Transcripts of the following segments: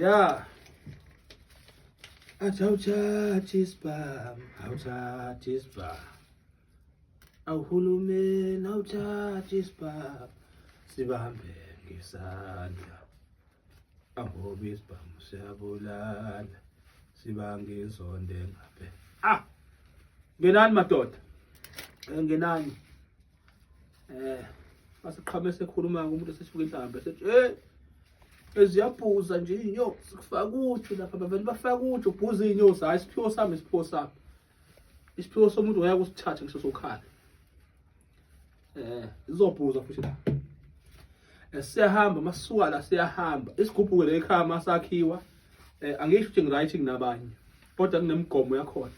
Ya. Athi awuthathi isibhamu, awuthathi isibhamu. Awuhulumeni awuthathi isibhamu, sibambe ngesandla. Angoba isibhamu siyabulala, sibange inzondo engapheli. Ah! Ngenani madoda, ngenani. eh asiqhame sekhuluma umuntu sesifika inhlamba sethi hey eziyabhuza nje inyosi kufaka uju lapha bavele bafaka uju ubhuza inyosi hayi isiphiwo sami isiphiwo sami isiphiwo somuntu waya kusithathe ngisho sokhala eh izobhuza futhi la eh, siyahamba masuka la siyahamba isigubhuke le ekhaya masakhiwa eh angisho ukuthi ngiright nginabanye kodwa kunemigomo yakhona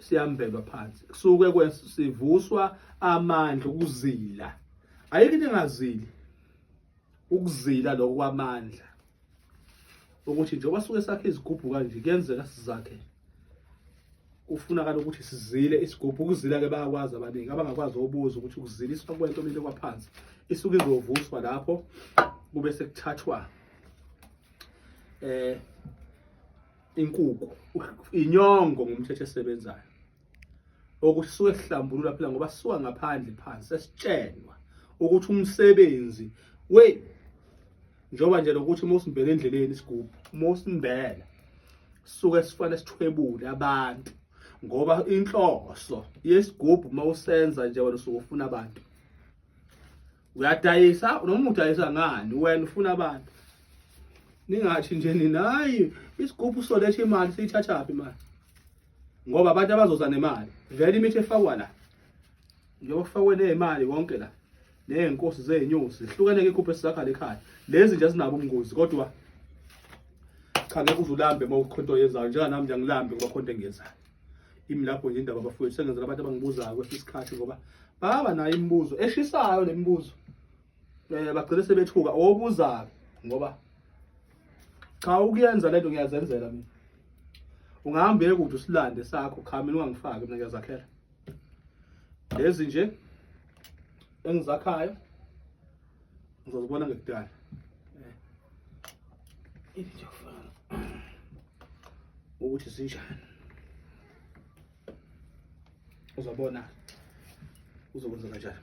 siyambelwa phansi kusuke kwesivuswa amandla ukuzila ayike into engazili ukuzila lokho kwamandla ukuthi njengoba suke sakhe izigubhu kanje kuyenzeka sizakhe kufunakala ukuthi sizile isigubhu ukuzila ke bayakwazi abaningi abangakwazi obuza ukuthi ukuziliswa kwento lento kwaphansi isuke izovuswa lapho kube sekuthathwa eh inkuku inyongo ngumthetho esebenzayo okusuke sihlambulula phela ngoba sisuka ngaphandle phansi sesitshenwa ukuthi umsebenzi we njengoba nje lokuthi uma usimbele endleleni isigubhu uma usimbela suke sifane sithwebule abantu ngoba inhloso yesigubhu uma usenza nje wena usuke ufuna abantu uyadayisa noma udayisa ngani wena ufuna abantu ningathi nje nina hayi isigubhu soletha imali siyithathaphi imali ngoba abantu abazoza nemali vele imithi efakwa la njengoba kufakwe nemali konke la ney'nkosi zey'nyosi zihlukene ke ikhuphe sizakhala ekhaya lezi nje azinabo ubungozi kodwa cha ngeke uze ulambe uma ukhonto yenzayo njenganami nje angilambi ngoba khonto engiyenzayo Imi lapho nje indaba bafowethu sengenzela abantu abangibuzayo kwesinye isikhathi ngoba baba nayo imibuzo eshisayo le mibuzo. Eh bagcine sebethuka obuzayo ngoba cha ukuyenza lento ngiyazenzela mina. Ungahambe kude usilande sakho cha mina ungangifaki mina ngiyazakhela. Lezi nje engizakhayo ngizozibona ngekudala eh. into yokufana ukuthi sinjani uzobona uzokwenza kanjani